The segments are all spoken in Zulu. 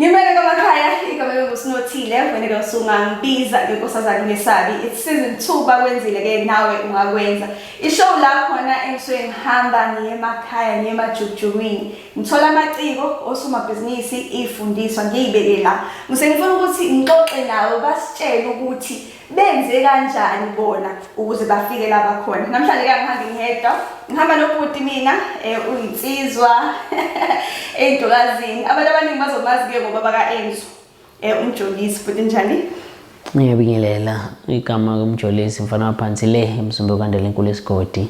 Ngimele kwamakhaya igama lokusinothile wena ke usungangibiza ngenkosazana ngesabi it's season 2 bakwenzile ke nawe ungakwenza ishow la khona engisuke ngihamba ngiye emakhaya ngiye emajujukwini ngithola amaciko osomabhizinisi ifundiswa ngiyibeke la ngisengifuna ukuthi ngixoxe nawe basitshele ukuthi benze kanjani bona ukuze bafike la bakhona namhlanje ke ngihambe ngedwa ngihamba nobhuti mina eh, uyinsizwa eyintokazini abantu abaningi bazomazi ke ngoba baka-enzo um eh, umjolisi futhi njani ngiyabingelela igama lomjolisi mfana waphansi le emzumbe okandela enkulu esigodi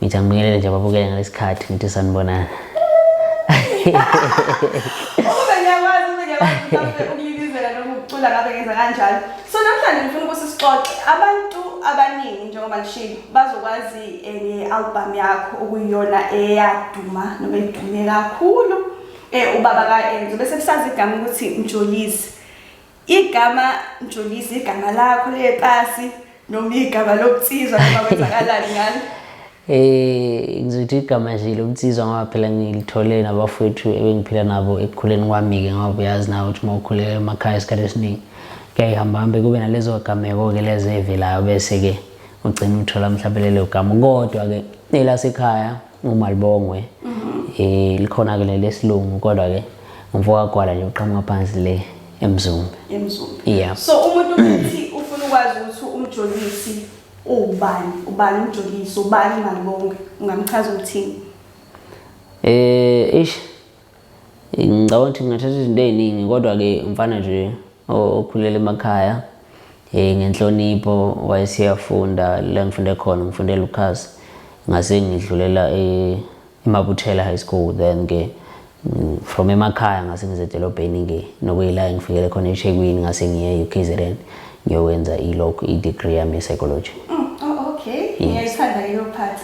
Ngithi angibingelele nje ababukele ngalesi khathi ngithi sanibonana. Ukube ngiyakwazi ukube ngiyakwazi ukulibizela noma ukucula ngabe ngenza kanjalo. So namhlanje ngifuna ukuthi sixoxe abantu abaningi njengoba ngishilo bazokwazi eh, nge-album yakho okuyiyona eyaduma noma edume kakhulu um ubaba ka-enzo bese kusazi igama ukuthi mjolisi Igama Mjolisi igama lakho lepasi noma igama lokutsizwa noma kwenzakalani ngalo? Eh ngizothi igama nje lokutsizwa ngoba phela ngilithole nabafowethu ebengiphila nabo ekukhuleni kwami-ke ngoba uyazi nawe ukuthi uma ukhulela emakhaya isikhathi esiningi kuyayihamba hambe kube nalezo gameko-ke lezo ey'velayo bese-ke ugcina uthola mhlawumbe lelo gama kodwa-ke elasekhaya umalibongwe eh likhona ke lesilungu kodwa ke umfoka gwala nje uqhamuka phansi le emzumbe emzumbe yeah so umuntu uthi ufuna ukwazi ukuthi umjolisi ubani ubani umjolisi ubani malibonge ungamchaza ukuthini eh ish ngicabanga ukuthi ngingathatha izinto ey'ningi kodwa-ke umfana nje okhulele emakhaya um ngenhlonipho wayeseyafunda la ngifunde khona ngifunde lucas ngase ngidlulela e-, emabuthela high school then-ke mm, from emakhaya ngase ngize edolobheni-ke nokuyila engifikele khona ethekwini ngase ngiye e-ukzn Ngiyokwenza ilog i-degree yami ye-psychology. Mm, oh, okay. Ngiyayithanda leyo part.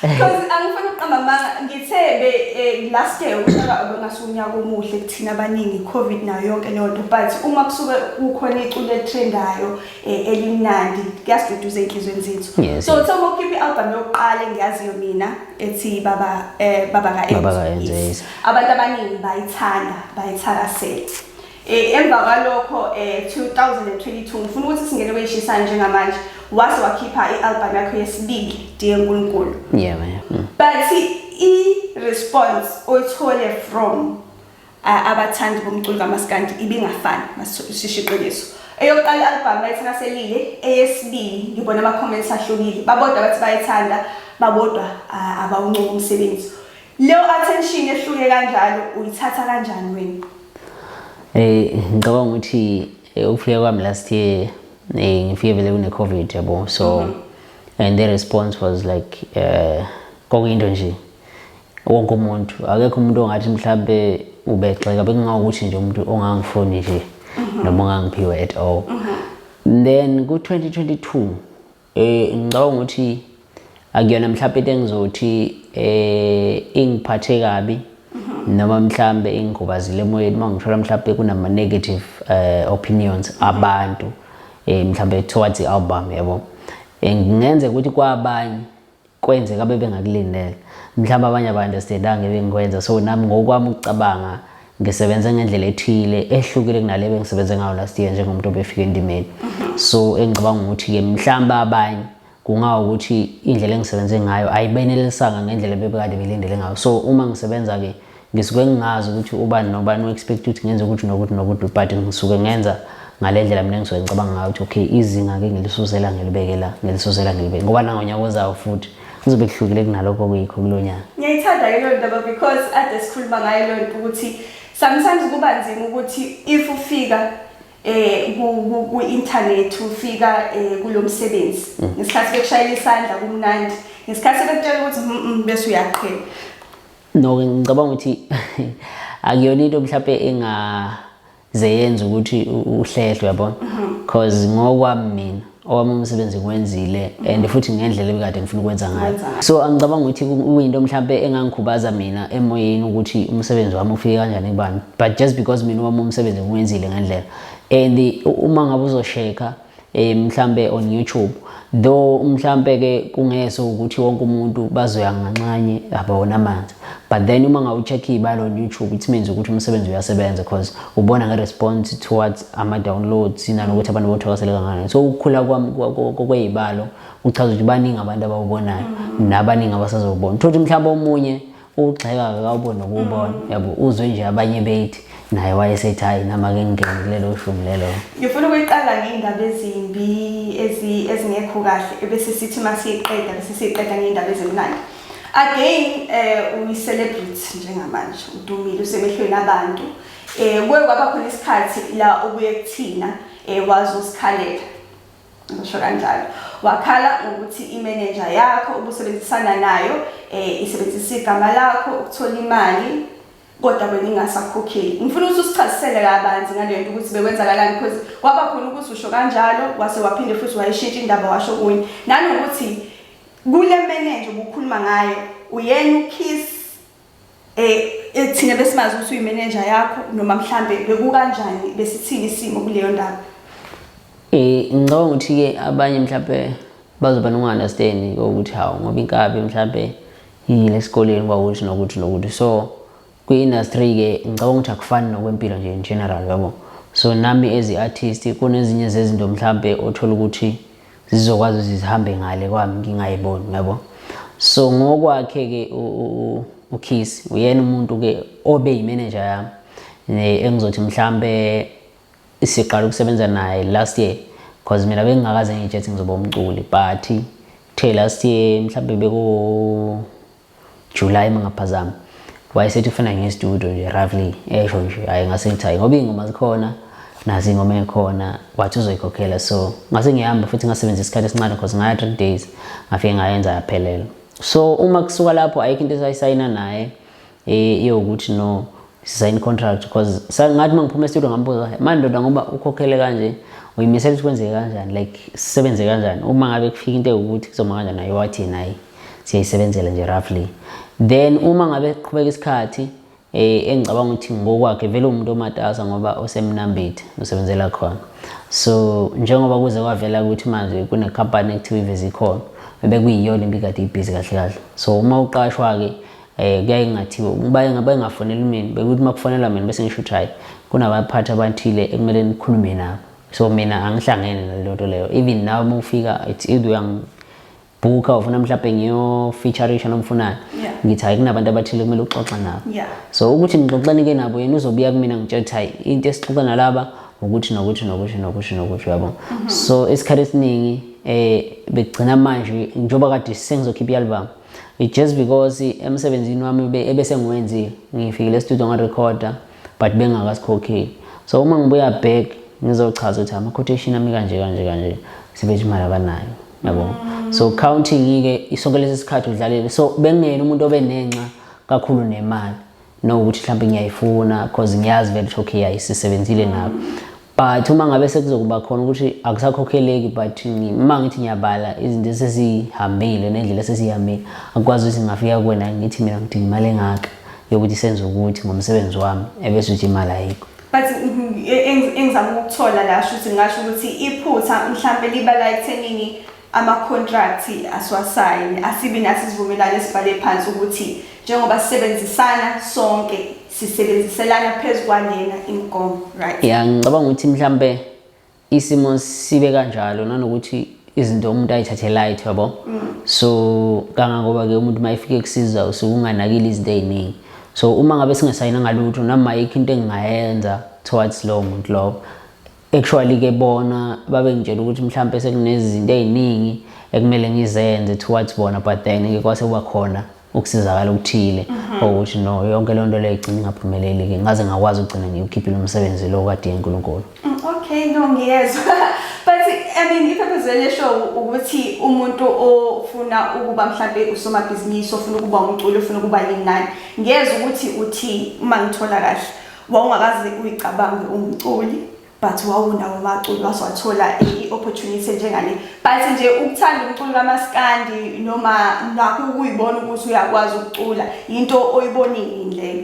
Because angifuni ukuqamba amanga ngithe be eh, last year unyaka obengasuka unyaka omuhle kuthina abaningi covid nayo yonke leyo nto but uma kusuke kukhona iculo elitrendayo eh, elimnandi kuyasiduduza ey'nhlizweni zethu Yes. so uthe uma ukhipha i-album yokuqala engiyaziyo mina ethi baba eh, baba Baba ka-Enzo, ka-Enzo, yes. yes. abantu abaningi bayithanda bayithakasela Eh, emva kwalokho um eh, 2022 ngifuna ukuthi singene kweyishisayo njengamanje wase wakhipha i-albhamu yakho yesibili diye nkulunkulu yeah, yeah. Mm. but i-response oyithole from uh, abathandi bomculo kamaskandi ibingafani masishishe iqiniso eyokuqala i-albhamu bayithanda selile eyesibili ngibona ama-comments ahlukile babodwa bathi bayithanda babodwa uh, abawuncuka umsebenzi Leyo attention ehluke kanjalo uyithatha kanjani wena? Eh ngicabanga ukuthi eh, ukufika kwami last year eh ngifike vele kune covid yabo so mhm. and the response was like eh kokuyinto nje wonke umuntu akekho umuntu ongathi mhlambe ubexeka bekungakuthi nje umuntu ongangifuni nje mhm. noma ongangiphiwe at all mhm. then ku 2022 Eh ngicabanga ukuthi akuyona mhlawumbe into engizothi eh ingiphathe kabi mhm. noma mhlawumbe ingigobazile emoyeni uma ngithola mhlawumbe kunama negative eh opinions mhm. abantu eh mhlawumbe towards i-album yabo. Eh, ngingenze ukuthi kwabanye kwenzeka bebengakulindele mhlawumbe abanye aba-understandanga ebengikwenza so nami ngokwami ukucabanga ngisebenze ngendlela ethile ehlukile kunale bengisebenze ngayo last year njengomuntu obefika endimeni so engicabanga ukuthi-ke mhlawumbe abanye kungawukuthi indlela engisebenze ngayo ayibenelisanga ngendlela bebekade belindele ngayo so uma ngisebenza-ke ngisuke ngingazi ukuthi ubani nobani u-expect ukuthi ngenze ukuthi nokuthi nokuthi but ngisuke ngenza ngale ndlela mina ngisuke ngicabanga ngayo ukuthi okay izinga-ke ngilisuzela ngilibeke la ngilisuzela ngilibeke ngoba nangonyaka ozawo futhi kuzobe kuhlukile kunalokho kuyikho kulo nyaka ngiyayithanda ke loo ndaba because ade sikhuluma ngayo loo nto ukuthi sometimes kuba nzima ukuthi if ufika eh ku-internet ufika eh, kulo msebenzi mm. ngesikhathi bekushayela isandla kumnandi ngesikhathi sebekutshela ukuthi mm, mm, bese uyaqhela no ngicabanga ukuthi akuyona into mhlawumbe engaze yenza ukuthi uhlehlwe yabona because mhm. ngokwami mina owami umsebenzi ngiwenzile and mhm. futhi ngendlela ebikade ngifuna ukwenza ngayo so angicabanga ukuthi kuyinto mhlawumbe engangikhubaza mina emoyeni ukuthi umsebenzi wami ufike kanjani kubani but just because mina owami umsebenzi ngiwenzile ngendlela and uma ngabe uzosheka eh mhlambe on YouTube though mhlambe ke kungese ukuthi wonke umuntu bazoya nganxanye abawona amanzi but then uma ngawucheck ibalo on YouTube it means ukuthi umsebenzi uyasebenza because ubona nge response towards ama downloads nanokuthi abantu bothakasele kangani so ukukhula kwami kwezibalo uchaza ukuthi baningi abantu abawubonayo mm. nabaningi abasazobona thothi mhlawumbe omunye ugxeka akawubo nokuwubona mm. yabo uzwe nje abanye bethi naye wayesethi hayi nama ke ngingene kulelo shumi lelo ngifuna ukuyiqala ngey'ndaba ezimbi ezingekho kahle ebese sithi uma siyiqeda bese siyiqeda ngey'ndaba ezimnandi again um uyi-celebrity njengamanje udumile usemehlweni abantu um kuye kwaba khona isikhathi la okuye kuthina um wazi usikhalela ngisho kanjalo wakhala ngokuthi imenenja yakho ubusebenzisana nayo um isebenzisa igama lakho ukuthola imali kodwa wena ingasakhokheli ngifuna ukuthi usichazisele kabanzi ngale nto ukuthi bekwenzakalani because kwaba khona ukuthi usho kanjalo wase waphinde futhi wayishintsha indaba washo kunye nanokuthi kule menenja ubukhuluma ngayo uyena ukiss eh thina besimazi ukuthi uyimenenja yakho noma mhlambe bekukanjani besithini isimo kuleyo ndaba eh ngicabanga ukuthi ke abanye mhlambe bazoba nokungunderstand ukuthi hawu ngoba inkabi mhlambe yile sikoleni kwawuthi nokuthi nokuthi so kwi-industry ke ngicabanga ukuthi akufani nokwempilo nje in general yabo so nami as i-artist kunezinye zezinto mhlambe othola ukuthi zizokwazi ukuthi zihambe ngale kwami ngingayiboni ngiyabo so ngokwakhe ke uKiss uyena umuntu ke obe yimanager yami ne engizothi mhlambe siqala ukusebenza naye last year because mina bengingakaze ngitshethi ngizoba umculi but the last year mhlambe beku July mangaphazama wayesethi ufuna nge studio nje roughly esho nje hayi ngase ngithayi ngoba ingoma zikhona nazi ingoma ekhona wathi uzoyikhokhela so ngase ngihamba futhi ngasebenzisa isikhathi esincane because ngaya 3 days ngafike ngayenza yaphelela so uma kusuka lapho ayikho into esayisayina naye eh iyokuthi no sign contract because sangathi mangiphuma estudio ngambuza manje ndoda ngoba ukhokhele kanje uyimisela ukuthi kwenzeke kanjani like sisebenze kanjani uma ngabe kufika into ewukuthi kuzoma kanjani naye wathi nayi siyayisebenzela nje roughly then uma ngabe qhubeka isikhathi eh engicabanga ukuthi ngokwakhe vele umuntu omatasa ngoba osemnambithi usebenzela khona so njengoba kuze kwavela ukuthi manje kune company ekuthiwa ivezi khona bebe kuyiyona impikade ibhizi kahle kahle so uma uqashwa ke Eh kuyaye kungathiwa ukuba engabe engafonela mina bekuthi makufonelwa mina bese ngisho ukuthi hayi kunabaphathi abathile ekumele nikhulume nabo. So mina angihlangene naleyo nto leyo. Even nawe uma ufika it's either uyang bhukha ufuna mhlawumbe ngiyofeaturisha noma ufunani yeah. ngithi hayi kunabantu abathile kumele uxoxe nabo yeah. so ukuthi ngixoxeni-ke nabo yena uzobuya kumina ngitshela ukuthi hayi into esixoxa nalaba ukuthi nokuthi nokuthi nokuthi nokuthi uyabo mhm. so isikhathi esiningi um bekugcina manje njengoba kade sengizokhipha i-album just because emsebenzini wami ebese ngiwenzile ngifikile estudio ngarecorda but bengakasikhokheli so uma ngibuya back ngizochaza ukuthi ama-quotation ami kanje kanje kanje sebethi imali abanayo yabo so counting-ke isonke lesi sikhathi udlalele so bengena umuntu obenenxa kakhulu nemali no ukuthi mhlawumbe ngiyayifuna because ngiyazi vele ukuthi okay ayisisebenzile nabo but uma ngabe sekuzokuba khona ukuthi akusakhokheleki but uma ngithi ngiyabala izinto esesihambile nendlela esesihambile akukwazi ukuthi ngingafika kuwena ngithi mina ngidinga imali engaka yokuthi senze ukuthi ngomsebenzi wami ebese uthi imali ayikho but engizama ukuthola la shuthi ngasho ukuthi iphutha mhlampe libala ekuthenini amakhontrathi asiwasayini asibi nathi isivumelwano esibhale phansi ukuthi njengoba sisebenzisana sonke sisebenziselana phezu kwanena imigomo right ya ngicabanga ukuthi mhlampe isimo sibe kanjalo nanokuthi izinto umuntu ayithathe light yabo mm. so kangangoba ke umuntu mayefike kusiza usukunganakile izinto eziningi so uma ngabe singasayina ngalutho noma yikho into engingayenza towards lowo muntu lowo actually ke bona babengitshela ukuthi mhlawumbe sekunezinto eziningi ekumele ngizenze towards bona but then ke kwase kuba khona ukusizakala okuthile mhm. ukuthi no yonke lento leyo igcina ingaphumeleli ke ngaze ngakwazi ukugcina ngiyukhiphile umsebenzi lo kade yenkulunkulu mm, okay no ngiyezwa but i mean ipurpose le show ukuthi umuntu ofuna ukuba mhlambe usomabhizinisi ofuna ukuba umculi ofuna ukuba yinani ngiyezwa ukuthi uthi uma ngithola kahle wawungakaze uyicabange umculi but wawunawo umaculi waswathola i-opportunity njengale but nje ukuthanda umculo kamaskandi noma nakho ukuyibona ukuthi uyakwazi ukucula yinto oyibonini leyo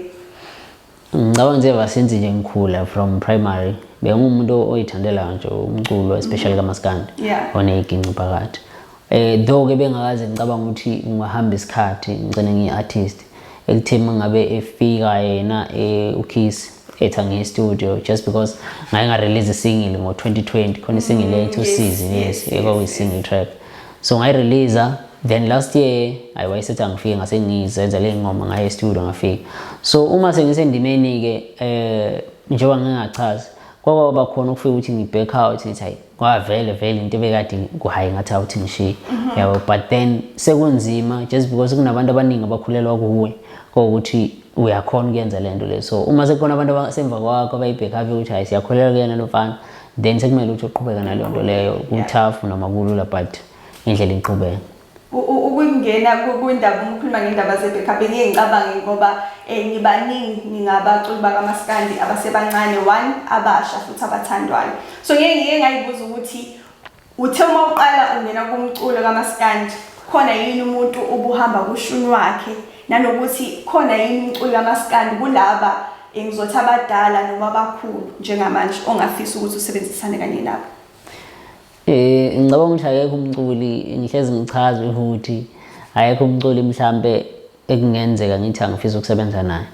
ngicabanga nje vasenzi nje ngikhula from primary bengumuntu oyithandela nje umculo especially kamaskandi yeah. oneyiginci phakathi Eh though ke bengakaze ngicabanga ukuthi ngihamba isikhathi ngicela ngiyi-artist ekutheni mangabe efika yena eh, uKiss etha nge-studio just because ngaye ngarelease single ngo-2020 khona isingle mm, yethu usizi yes ekwakuyi-single track so ngayireleasa then last year ayi wayesethi angifike ngase ngizenza le ngoma ngaye estudio ngafika so uma sengisendimeni-ke um eh, njengoba ngingachazi kwakwaba khona ukufika ukuthi ngi-back out ngithi hayi ngoba vele vele into ebekade kuhayi ngathi awuthi ngishiye mhm. yabo but then sekunzima just because kunabantu abaningi abakhulelwa kuwe kokuthi uyakhona ukuyenza le nto le so uma sekukhona abantu abasemva kwakho abayibhekhavi ukuthi hayi siyakhulelwa kuyena lo mfana then sekumele ukuthi uqhubeka naleyo nto leyo kuthafu noma kulula but indlela iqhubeka ukungena kwindaba uma ukhuluma ngendaba ze-backup ngiye ngicabange ngoba um ngibaningi ngingabaculi bakamaskandi abasebancane one abasha futhi abathandwayo so ngeke ngike ngayibuza ukuthi uthe uma uqala ungena kumculo kamaskandi khona yini umuntu ubuhamba kushuni wakhe nanokuthi khona yini umculi kamaskandi kulaba eh, ngizothi abadala noma abakhulu njengamanje ongafisa ukuthi usebenzisane kanye nabo Eh ngicabanga ukuthi akekho umculi ngihlezi ngichaza ukuthi akekho umculi mhlambe ekungenzeka ngithi angifisa ukusebenza naye.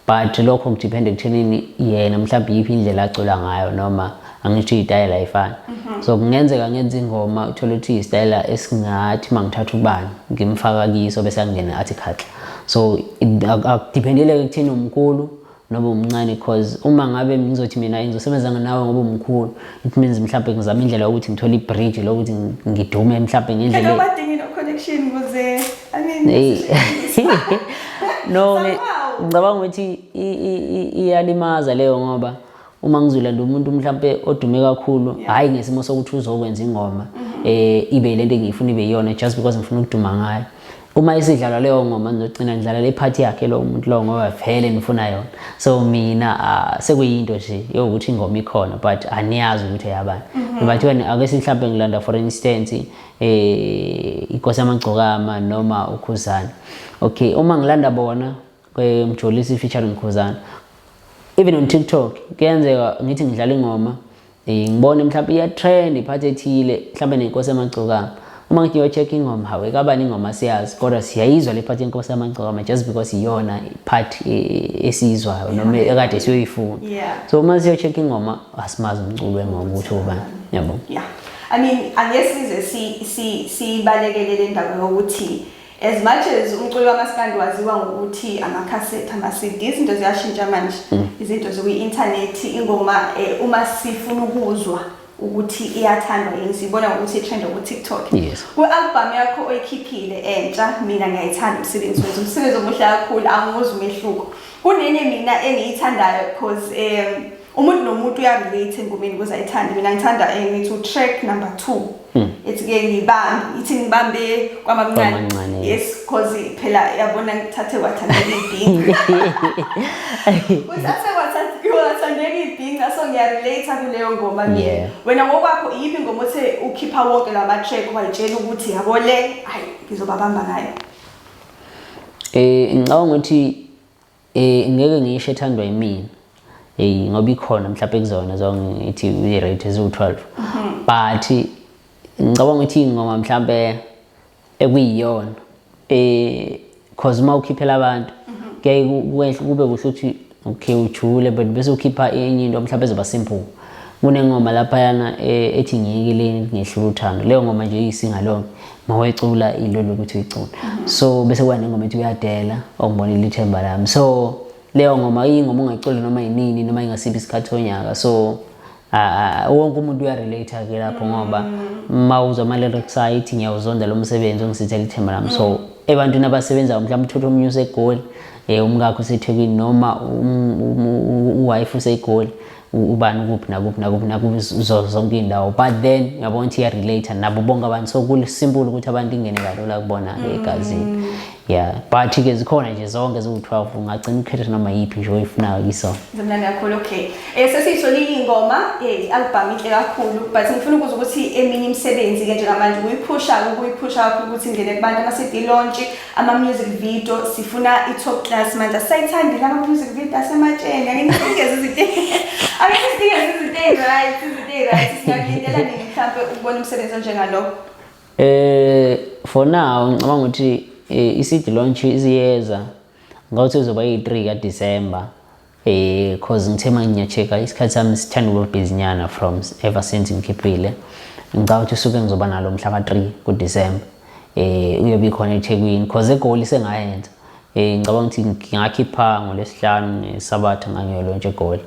But lokho ngidepend ekuthenini yena mhlawumbe yiphi indlela acula ngayo noma angisho itayela ifana. Mhm. So kungenzeka ngenza ingoma uthola ukuthi isitayela esingathi mangithatha ubani ngimfaka kiso bese angena athi khatla. So akudependeleke kuthina umkhulu noma umncane cause uma ngabe ngizothi mina ngizosebenza nawe ngoba umkhulu it means mhlawumbe ngizama indlela yokuthi ngithole i-bridge lokuthi ngidume mhlawumbe ngendlela badingi no connection kuze i mean no ngicabanga ukuthi iyalimaza leyo ngoba uma ngizolanda umuntu mhlampe odume kakhulu hayi ngesimo sokuthi uzokwenza ingoma mhm. eh ibe lento engiyifuna ibe yona just because ngifuna ukuduma ngayo uma isidlala leyo ngoma ngizogcina ngidlala le part yakhe lo muntu lo ngoba vele ngifuna yona so mina ah, sekuyinto nje yokuthi ingoma ikhona but aniyazi ukuthi yabani mhm. but wena ake simhlambe ngilanda for instance eh ikosi amagcokama noma ukhuzana okay uma ngilanda bona kwemjolisi feature nomkhuzana even on tiktok kuyenzeka ngithi ngidlala ingoma eh, ngibone mhlawumbe iyatrend iphathi ethile mhlawumbe nenkosi yamagcokama uma ngithi ngiyocheck ingoma hawe kabani ingoma siyazi kodwa siyayizwa le phathi yenkosi yamagcokama just because iyona part eh, esiyizwayo noma ekade siyoyifuna so uma siyocheck ingoma asimazi umculo wengoma ukuthi ubani yabo yeah i mean angesize si si sibalekele le ndawo yokuthi si, As much as umculo kamaskandi waziwa ngokuthi amakhasetha ama-CD izinto ziyashintsha manje mm. izinto zikwi-inthanethi ingoma eh, uma sifuna ukuzwa ukuthi iyathandwa yini siyibona ngokuthi itrend ku-tiktok kwi-albhamu yakho oyikhiphile entsha mina ngiyayithanda umsebenzi wethu umsebenzi omuhle kakhulu angiwuzi umehluko kunenye mina engiyithandayo because um umuntu nomuntu uyarelate engomeni kuze ayithande mina ngithanda engithi eh, utrack number two hmm. ithi ke ngibambe ithi ngibambe kwamamncane yes cause phela yabona ngithathe kwathandeka ibhinga uthathe kwathandeka ibhinga so ngiyarelate kuleyo ngoma mina wena ngokwakho iyiphi ngoma othe ukhipha wonke la ma-track wayitshela ukuthi yabo le hayi ngizobabamba ngayo um ngicabanga ukuthi Eh ngeke ngisho ethandwa yimina. Hey ngoba ikhona mhlawumbe kuzona zonke ngithi i rate eziwu 12. Mhm. But ngicabanga ukuthi ingoma mhlawumbe ekuyiyona eh cause uma ukhiphela abantu mhm. kuyaye kube kuhle ukuthi okay ujule but bese ukhipha enye into mhlawumbe ezoba simple kunengoma laphayana eh, ethi ngiyekileni ngehlula uthando leyo ngoma nje iyisinga lonke mawecula into lokuthi uyicula so bese kuba nengoma ethi uyadela ongibonile ithemba lami so leyo ngoma iyingoma ongayicula noma yinini noma ingasiphi isikhathi sonyaka so wonke umuntu uyarelate ke lapho ngoba uma uzwa ama-lyrics ayo ithi ngiyawuzonda lo msebenzi ongisithela ithemba lami so mm. ebantwini abasebenzayo mhlawumbe uthotha omunye usegoli um umkakho usethekwini noma um, um, um, uwife usegoli ubani ukuphi nakuphi nakuphi nakuphi zonke iy'ndawo but then ngiyabona ukuthi iya-relate nabo bonke abantu so kusimpule ukuthi abantu ingene kalula kubona-ke mm. egazini yeah but-ke zikhona nje zonke ziwu-twelve ungagcina ukhetha noma yiphi nje oyifunayo kisona zimnandi kakhulu okay um eh, sesiyithole iy'ngoma um eh, i-albhamu inhle kakhulu but ngifuna ukuza ukuthi eminye imisebenzi-ke njengamanje uyiphusha-ke ukuyiphusha kakhulu ukuthi ingene kubantu ama-cd lontshe ama music video sifuna i top class manje sayithandi lama music video asematsheni ake nifike izinto ake nifike izinto right izinto right singalindela nini mhlambe ukubona umsebenzi onjengalo eh for now ngicabanga ukuthi eh, i-seed launch iziyeza ngawuthi uzoba yi-3 kaDisemba eh cause ngithe uma ngiyacheka isikhathi sami sithanda ukuba busy nyana from ever since ngikhiphile ngicabanga ukuthi usuke ngizoba nalo mhla ka-3 kuDecember eh uyobe khona eThekwini cause egoli sengayenza eh ngicabanga ukuthi ngingakhipha ngolesihlanu ngesabatha ngangiyolontsha egoli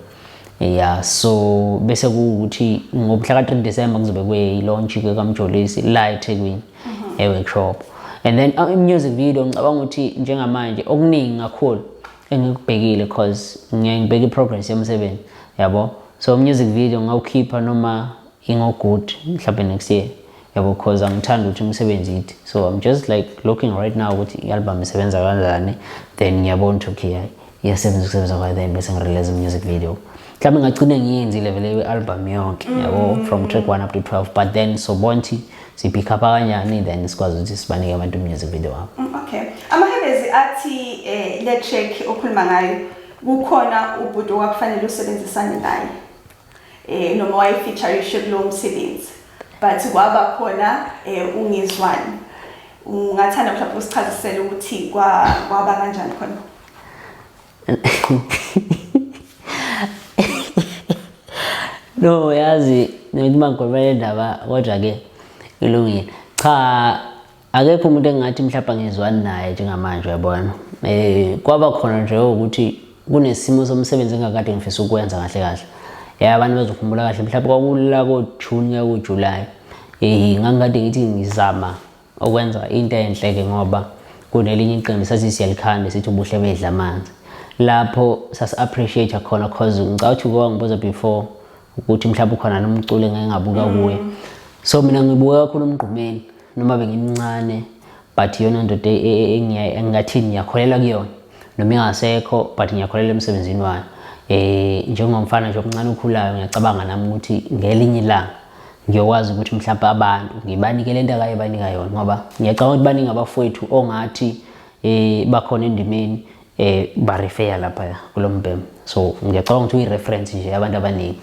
yeah so bese kuwukuthi ngomhla ka-3 December ngizobe kweyilaunch kaMjolisi la eThekwini mhm. e-workshop and then uh, music video ngicabanga ukuthi njengamanje okuningi kakhulu engikubhekile cause ngiye ngibheke i-progress yomsebenzi yabo so music video ngawukhipha noma ingogood mhlawumbe next year yabo cause angithanda ukuthi umsebenzi yithi so i'm just like looking right now ukuthi i-album isebenza kanjani then ngiyabona ukuthi okay hayi iyasebenza ukusebenza kwayo then bese ngirelease music video mhlawumbe ngagcine ngiyenzile vele i-album yonke yabo from track one up to 12 but then sobona ukuthi siphikha abakanyani then sikwazi ukuthi sibanike abantu music video wabo mm, okay amahebezi athi eh, le track okhuluma ngayo kukhona ubhuti owakufanele usebenzisane naye eh noma wayefeature isho kulo msebenzi but kwaba khona eh, ungizwani ungathanda mhlawumbe usichazisele ukuthi kwaba kanjani khona no yazi ngithi mangigomela indaba kodwa ke ilungile cha akekho umuntu engathi mhlawumbe angizwani naye njengamanje uyabona eh kwaba khona nje ukuthi kunesimo somsebenzi engakade ngifisa ukwenza kahle kahle eh abantu bazokhumbula kahle mhlawumbe kwakulula ko June ko July eh ngangikade ngithi ngizama okwenza into enhle ke ngoba kunelinye iqembu sathi siyalikhanda sithi ubuhle bedla amanzi lapho sasi-appreciate khona cause ngicabanga ukuthi uke wangibuza before ukuthi mhlawumbe ukhona nomculi engeke ngabuka mm. kuye so mina ngibuka kakhulu umgqumeni noma bengimncane but iyona ndoda e, e, e, engingathini ngiyakholelwa kuyona noma ingasekho but ngiyakholelwa emsebenzini wayo um njengomfana nje omncane okhulayo ngiyacabanga nami ukuthi ngelinye ilanga ngiyokwazi ukuthi mhlawumbe abantu ngibanike lento akayebanika yona ngoba ngiyacabanga ukuthi baningi abafowethu ongathi eh bakhona endimeni eh barefeya lapha kulo mbhemu so ngiyacabanga ukuthi uyi-reference nje abantu abaningi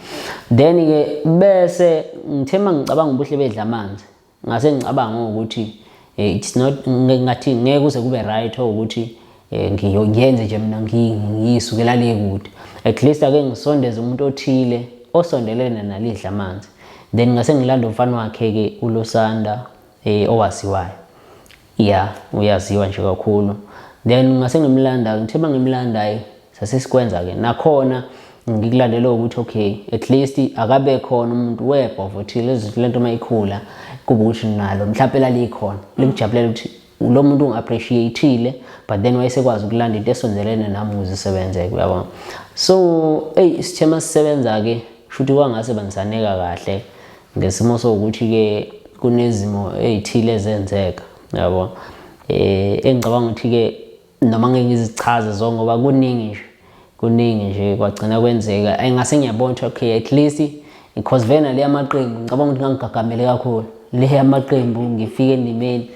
then-ke bese ngithe uma ngicabanga ubuhle bedla amanzi ngase ngicabanga ukuthi Eh, it's not ngathi ngeke uze kube right ukuthi eh, ngiyenze nje mina ngiyisukela le kude at least ake ngisondeze umuntu othile osondelene nalidla amanzi then ngase ngilanda umfana wakhe ke ulosanda eh owaziwayo yeah uyaziwa nje kakhulu then ngase ngimlanda ngithe bangimlandayo sasesikwenza ke nakhona ngikulandela ukuthi okay at least akabe khona umuntu webha ukuthi lezi lento mayikhula kube ukuthi nalo mhlawumbe lalikhona likujabulela ukuthi lo muntu ungi-appreciatile but then wayesekwazi ukulanda into esondelene nami ukuze isebenze uyabona so eyi isithema sisebenza-ke shuthi kwangase bangisaneka kahle ngesimo sokuthi-ke kunezimo ey'thile ezenzeka yabo um engicabanga ukuthi-ke noma ngeke ngizichaze zonke ngoba kuningi nje kuningi nje kwagcina kwenzeka engase ngiyabona ukuthi okay at least because vena le amaqembu ngicabanga ukuthi ngangigagamele kakhulu le amaqembu ngifike endimeni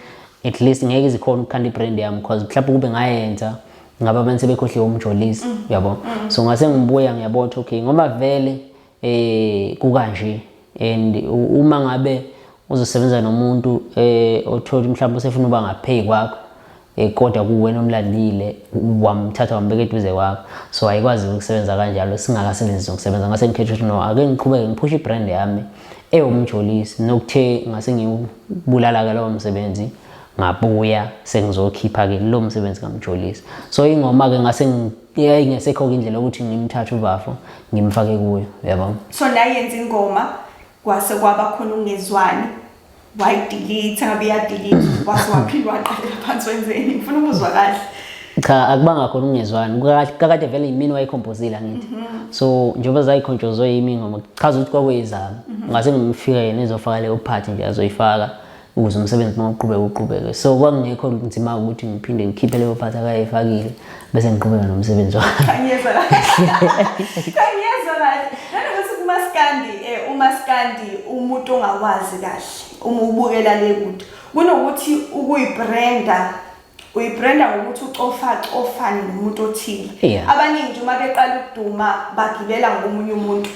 at least ngeke zikhona ukukhanda ibrand yami because mhlawumbe kube ngayenza ngaba abantu sebekhohliwe umjolisi mm. uyabo mm. so ngase ngibuya ngiyabona ukuthi okay ngoba vele eh kukanje and uma ngabe uzosebenza nomuntu eh othola mhlawumbe usefuna uba ngapheyi kwakho eh kodwa kuwena omlandile wamthatha wambeka eduze kwakho so ayikwazi ukusebenza kanjalo singakasebenzisi ukusebenza ngase ngikhetha ukuthi no ake ngiqhubeke ngiphushe ibrand yami ewumjolisi nokuthe ngase ngibulala ke lowo msebenzi ngabuya sengizokhipha ke lo msebenzi kamjolisi so ingoma ke ngase ngi yeah ingesekho indlela ukuthi ngimthathe ubafo ngimfake kuyo yabo so la yenza ingoma kwase kwaba khona ungezwani wayidelete ngabe yadelete kwase waphila waqalela phansi wenzeni ngifuna ukuzwa kahle cha akubanga khona ungezwani kakade vele yimini wayikhompozile angithi mhm. so njengoba zayikhonjozwe yimi ngoma chaza ukuthi kwakuyizami mhm. ngase ngimfika yena ezofaka leyo part nje azoyifaka ukuze umsebenzi mawuqhubeke uqhubeke so kwakungekho nzima ukuthi ngiphinde ngikhiphe leyo phathi akayifakile bese ngiqhubeka nomsebenzi wami kanyeza kanyeza nanokuthi kumaskandi eh, umaskandi umuntu ongawazi kahle uma ubukela le kude kunokuthi ukuyibranda uyibrenda ngokuthi ucofacofane nomuntu othile yeah. abaningi nje uma beqala ukuduma bagibela ngomunye umuntu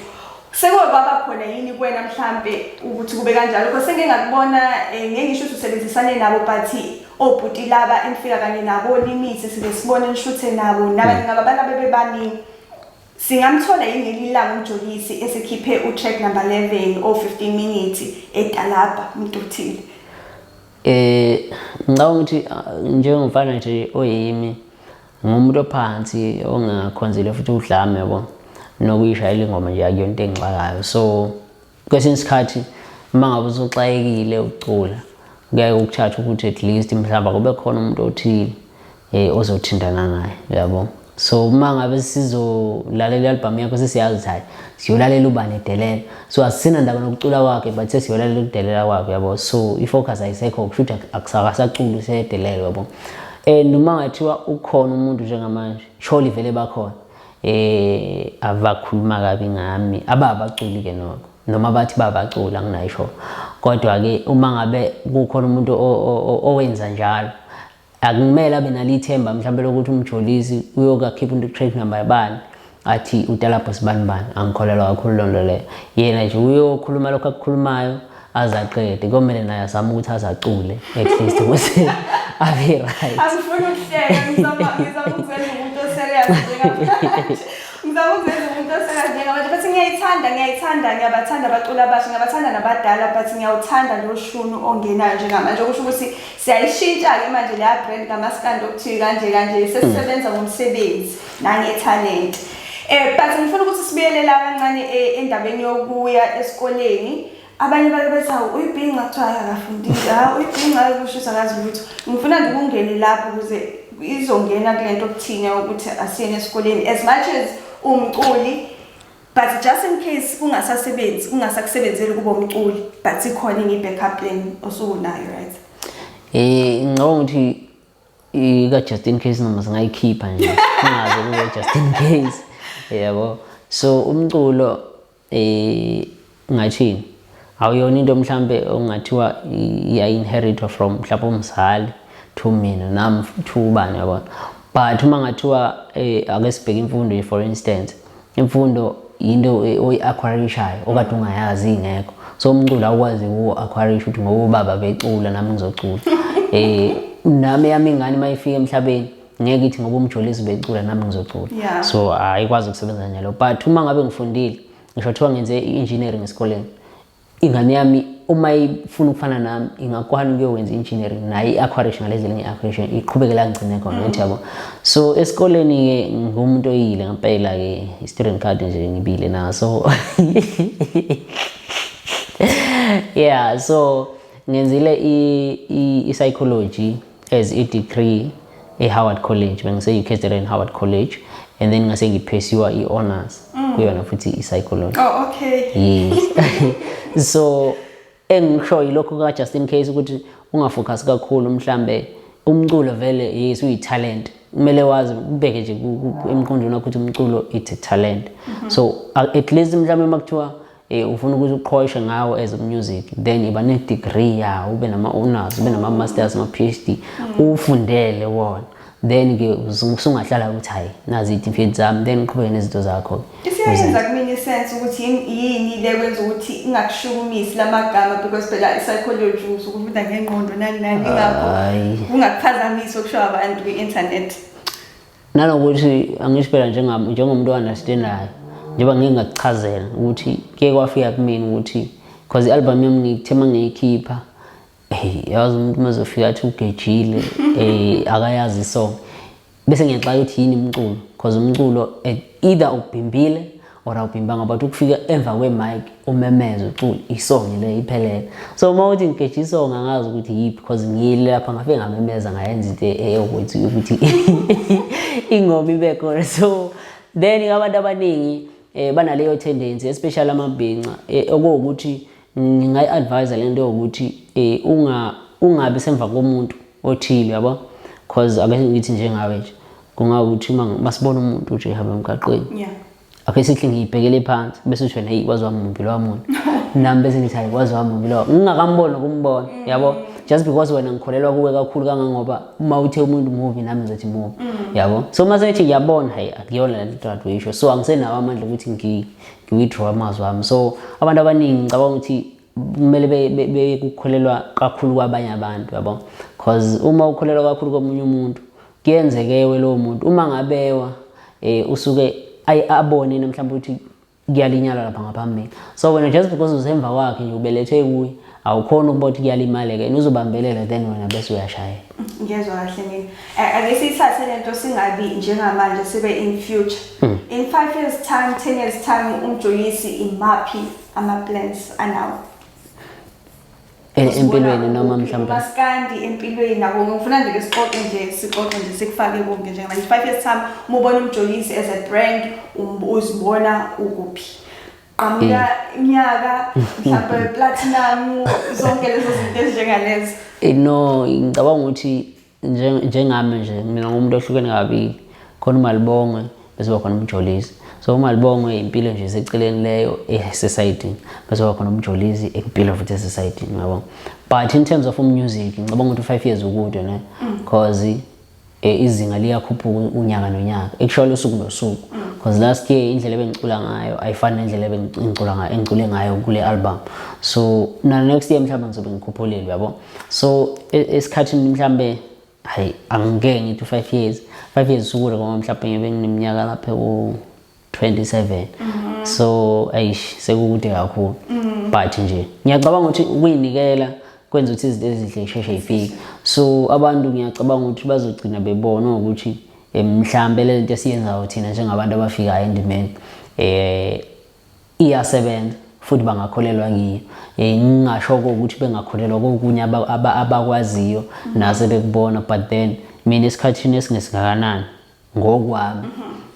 sekwaba khona yini kwena mhlampe ukuthi kube kanjalo kodwa sengike ngakubona eh, ngeke ngisho ukuthi usebenzisane nabo but obhuti laba engifika kanye nabo limithi sibe sibone nishuthe nabo nabanye hmm. ngaba bana bebebaningi singamthola yini ngelilanga umjolisi esikhiphe utrack number 11 o 15 minutes etalabha umuntu othile Eh ngicabanga ukuthi ah, njengomfana nje oyimi ngumuntu ophansi ongakhonzile futhi udlame yabo nokuyishayela ingoma nje akuyona into engixakayo so kwesinye isikhathi uma ngabe usuxakekile ukucula kuyaye kukuthatha ukuthi at least mhlawumbe kube khona umuntu othile eh ozothintana naye uyabo so uma ngabe sizolalela i-albhamu yakho sesiyazi ukuthi hayi siyolalela ubani edelela so asisina ndaba nokucula kwakhe but sesiyolalela ukudelela kwakhe uyabo so i-focus ayisekho kusho ukuthi akusakasaculi usedelela uyabo and uma ngathiwa ukhona umuntu njengamanje surely vele bakhona eh abakhuluma kabi ngami ababaculi ke noko noma bathi babaculi anginayisho kodwa ke uma ngabe kukhona umuntu owenza njalo akumele abe nalithemba mhlawumbe lokuthi umjolisi uyokakhipha into track number yabani athi utalabho sibani bani angikholelwa kakhulu loo nto leyo yena nje uyokhuluma lokho akukhulumayo azaqede komele naye azame ukuthi azacule at least ukuthi abe right asifuni ukuhleka ngizama ngizama ukuzela umuntu oserious njengamanje ngizama ukuzela umuntu oserious njengamanje but ngiyayithanda ngiyayithanda ngiyabathanda abaculi abasha ngiyabathanda nabadala but ngiyawuthanda lo shunu ongenayo njengamanje okusho ukuthi Siyayishintsha-ke manje leya brand kamaskandi okuthiwi kanje kanje sesisebenza ngomsebenzi nangethalente. Eh but ngifuna ukuthi sibuyele la kancane eh, endabeni yokuya esikoleni. Abanye bake bethi hawu uyibhinca kuthiwa hayi akafundile, ha uyibhinca hayi kushisa akazi lutho. Ngifuna nje ukungene lapho ukuze izongena kule nto okuthina ukuthi asiyeni esikoleni as much as umculi but just in case kungasasebenzi kungasakusebenzeli kuba umculi but ikhona ingi backup plan osukunayo right eh ngicabanga ukuthi ika just in case noma singayikhipha nje kungaze kube just in case yabo so umculo eh Ungathini? Awuyona into mhlampe ongathiwa iya-inheritwa from mhlawumpe umzali to mina nami to ubani yabona but uma ngathiwa eh, ake sibheke imfundo ye for instance imfundo yinto eh, oyi-aquarishayo okade ungayazi ingekho so umculo awukwazi uku-aquarisha ukuthi ngoba ubaba becula nami ngizocula eh nami yami ingane uma ifika emhlabeni ngeke ithi ngoba umjolisi becula nami ngizocula Yeah. so ayikwazi ukusebenza njalo but uma ngabe ngifundile ngisho kuthiwa ngenze i-engineering esikoleni ingane yami uma ifuna ukufana nami ingakwana ukuyokwenza i-engineering naye i-aquarish ngalezi elinye i-aquarish iqhubekela ngigcine khona mm. yabo so esikoleni-ke ngumuntu oyile ngempela-ke i-student card nje ngibile naso yeah so ngenzile i-psychology as a degree e-Howard College bengise ucatering Howard College and then ngase ngiphesiwa i-honors mm. kuyona futhi i-psychology oh, okay. yes so engikusho yilokho ka-just in case ukuthi ungafocus kakhulu mhlambe umculo vele yes uyitalent kumele wazi ubeke nje emqondweni wakho ukuthi umculo it's a talent mm -hmm. so at least mhlawumbe uma kuthiwa Eh, ufuna ukuthi uqhoyishe ngawo as music then iba ne degree ya ube nama honors ube nama masters ma PhD ufundele wona then ke usungahlala ukuthi hayi nazi itifeed zami then uqhubeke nezinto zakho isiyenza kumina isense ukuthi yini le kwenza ukuthi ingakushukumisi lamagama because phela i-psychology usukufunda ngengqondo nani nani ingakho ungakuphazamisa okusho abantu kwi-internet nanokuthi angisho phela njengomuntu o-understandayo njengoba ngike ngakuchazela ukuthi kuye kwafika kumina ukuthi because i-album yami ngithe uma ngiyikhipha eyi yazi umuntu uma zofika athi ugejile um akayazi isong bese ngiyaxaka ukuthi yini umculo because umculo either ubhimbile or awubimbanga but ukufika emva kwe-mic umemeze ucula isongi le iphelele so uma uthi ngigejha isongi angazi ukuthi yiphi because ngiyile lapha ngafike ngamemeza ngayenza into eyokuthi ukuthi ingoma ibe khona so then abantu abaningi um banaleyo tendency especially amabhinca eh, okuwukuthi ngingayi advise lento yokuthi eh unga ungabi semva komuntu othile yabo cause ake ngithi njengawe nje kungawukuthi uma masibona umuntu nje hamba emgaqweni yeah ake sithi ngiyibhekele phansi bese usho hey kwazi wami mumbi lowa muntu nami bese ngithi hayi kwazi wami mumbi lowa ngingakamboni ukumbona mm. yabo just because wena ngikholelwa kuwe kakhulu kangangoba uma uthe umuntu mubi nami ngizothi mubi mm. yabo so uma sethi ngiyabona hayi akuyona le nto adweyisho so angisenawo amandla ukuthi ngiwithrow amazwi ami so abantu abaningi ngicabanga ukuthi kumele bekukholelwa kakhulu kwabanye abantu yabo because uma ukholelwa kakhulu komunye umuntu kuyenzekewe lowo muntu uma ngabewa um usuke abone yena mhlawumbe ukuthi kuyalinyalwa lapha ngaphambili so wena just because usemva kwakhe nje ubelethwe kuye awukhona ukuba ukuthi kuyalimaleka yena uzobambelela then wena bese uyashayela ngiyezwa kahle mina eh, ake siyithathe lento singabi njengamanje sibe in future hmm. in 5 years time 10 years time umjoyisi imaphi ama plans anawo eh, empilweni noma mhlawumbe maskandi empilweni nabo ngifuna nje sixoxe nje sixoxe nje sikufake konke nje manje 5 years time umubona umjoyisi as a brand um, uzibona ukuphi qhamuka inyaka mhlawumbe platinum zonke lezo zinto ezinjengalezo eh, no ngicabanga ukuthi njengami nje mina ngumuntu ohlukene kabili khona umalibongwe bese khona umjolisi so umalibongwe impilo nje seceleni leyo esesayidini bese khona umjolisi impilo futhi esesayidini yabo but in terms of umusic ngicabanga ukuthi u-five years ukude ne mm. cause eh, izinga liyakhuphuka unyaka nonyaka ekushayo usuku nosuku because last year indlela ebengicula ngayo ayifani nendlela ebengicula ngayo engicule ngayo kule album so na next year mhlawumbe ngizobe ngikhuphulile uyabo so e, esikhathini mhlawumbe hayi angike ngithi 5 years 5 years usuku ngoba mhlawumbe ngibe ngineminyaka lapha ku 27 mhm. so ayish sekukude kakhulu mhm. but nje ngiyacabanga ukuthi ukuyinikela kwenza ukuthi izinto ezinhle isheshe ifike so abantu ngiyacabanga ukuthi bazogcina bebona ukuthi eh, mhlambe le nto esiyenzayo thina njengabantu abafikayo endimeni eh iyasebenza futhi bangakholelwa ngiyo eh, ngingasho ukuthi bengakholelwa kokunye abakwaziyo mhm. nase bekubona but then mina esikhathini esingesingakanani ngokwami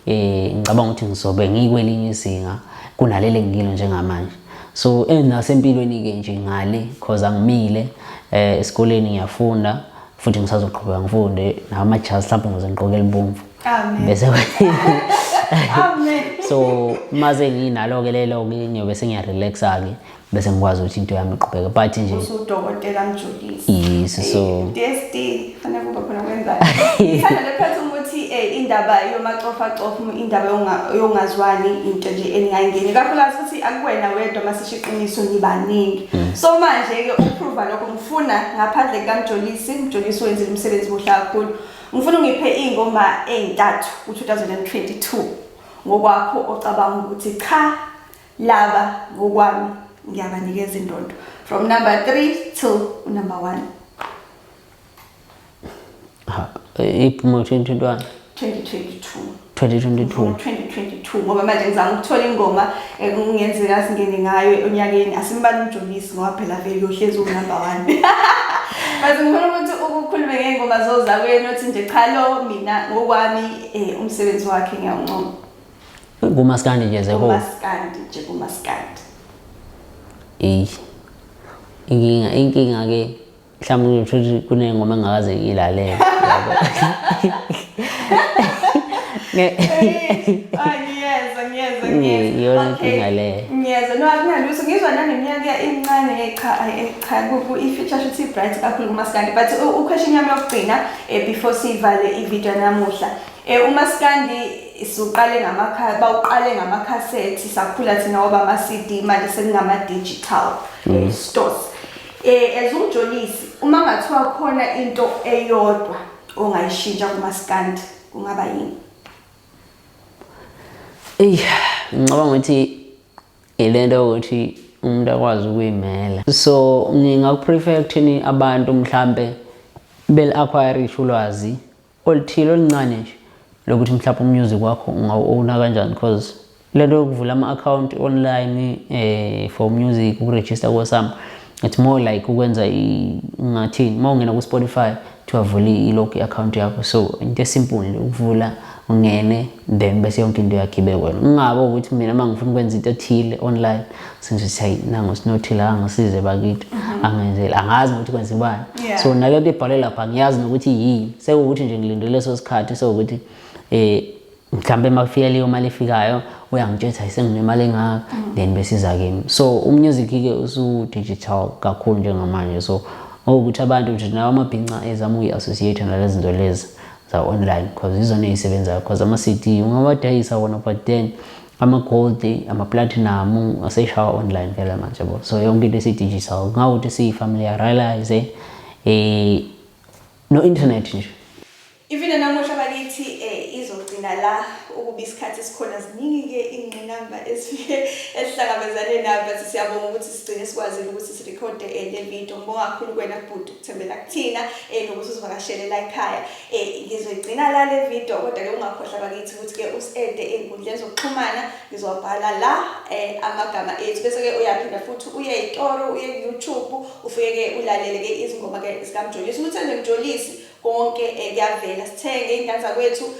eh ngicabanga ukuthi ngizobe ngikwelinye izinga kunalele ngikilo njengamanje so eh, nasempilweni ke nje ngale cause angimile eh esikoleni ngiyafunda futhi ngisazoqhubeka ngifunde nawo amajazi mhlawumbe ngize ngiqoke elibomvu bese so maze nginalo-ke lelo-ke ngiyobe sengiyarelaxa-ke bese ngikwazi ukuthi into yami iqhubeke but nje usudokotela mjulisi yes so test fanele kube khona kwenzani sana lephethe ukuthi eh, indaba yomacofa cofa indaba yongazwani into nje eningayingeni kakhulukazi ukuthi akuwena wedwa masisho iqiniso nibaningi mm. so manje ke ukuprova lokho ngifuna ngaphandle kamjolisi mjolisi wenzile umsebenzi muhle kakhulu ngifuna ungiphe ingoma ezintathu ku 2022 ngokwakho ocabanga ukuthi cha Laba ngokwami ngiyabanikeza indondo from number 3 to number 1. Ha, iphuma 2021. 2022. 2022 2022 ngoba manje ngizama ukuthola ingoma ekungenzeka eh, singene ngayo onyakeni asimbali umjolisi ngoba phela vele uyohlezi unumber 1 Bathi ngifuna ukuthi ukukhulume ngengoma zozakwenu othi nje cha lo mina ngokwami eh, umsebenzi wakhe ngiyawuncoma kumaskandi nje zeho kumaskandi nje kumaskandi eyi inkinga inkinga ke mhlawumbe ngithola ukuthi kunengoma engakaze ngiyilalele iyona nkinga leyo ngiyezwa no akunalutho ngizwa naneminyaka incane echa echa i-feature shuthi i-bright kakhulu kumaskandi but ukhwesha inyama yokugcina um before siyivale ividiyo namuhla um umaskandi siwuqale ngamakha bawuqale ngamakhasethi sakhula thina waba ama-cd manje sekungama-digital mm. eh, stores eh as umjolisi uma ngathiwa khona into eyodwa ongayishintsha kumaskandi kungaba yini eyi ngicabanga ukuthi ilento yokuthi umuntu akwazi ukuyimela so ngingakuprefer ekuthini abantu mhlampe beli-acquire isho ulwazi oluthile oluncane nje lokuthi mhlawumbe umusic wakho ungawu-owna kanjani because lento yokuvula ama-akhawunti online eh, for music ukurejista kosam it's more like ukwenza ngathini uma ungena ku-spotify kuthiwa vula ilog i-akhawunti yakho so into esimple ukuvula ungene then bese yonke into yakhibe kwena ungabe ukuthi mina uma ngifuna ukwenza into ethile online senze ukuthi hayi nangu sinothile angisize bakithi mhm. angenzele angazi nokuthi kwenzibani so nale nto ibhalwe lapha ngiyazi nokuthi yini sekuwukuthi nje ngilinde leso sikhathi sewukuthi um mhlawumbe uma kufika leyo mali efikayo uyangitshela ukuthi ayisenginemali engaka mhm. then besiza kimi so umusic-ke usu-digital kakhulu njengamanje so ngokuthi abantu nje nawo amabhinca ezama uyi-associate nale zinto lezi za-online because izona ey'sebenzayo because ama-cd ungawadayisa wona but then amagoldi amaplathinamu aseshawa online phela manje bo so yonke into esidigital ngawuthi siyifamiliarize eh no internet nje ivina namuhla bakithi eh izogcina la ukuba isikhathi sikhona ziningi ke ingqinamba esifike esihlangabezane nayo but siyabonga ukuthi sigcine sikwazile ukuthi sirecorde eh, le video ngibonga kakhulu kwena bhuti Thembela kuthina eh nokuthi uzivakashelela ekhaya eh ngizoyigcina la le video kodwa ke ungakhohlwa bakithi ukuthi ke usiede ezinkundleni zokuxhumana ngizobhala la eh amagama ethu bese ke uyaphinda futhi uye eToro uye YouTube ufike ke ulalele ke izingoma ke zikaMjolisi umuntu enjolisi konke eh, kuyavela sithenge ingane zakwethu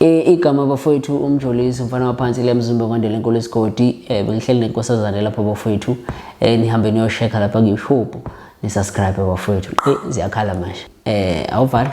igama bafowethu umjolisi umfana waphansi le mzimba kwandela enkulu esigodi um bengihleli nenkosazane lapho bafowethu um eh, nihambe niyoshekha lapha kuyishubhu nisubscribe bafowethu eyi ziyakhala manje um awuvala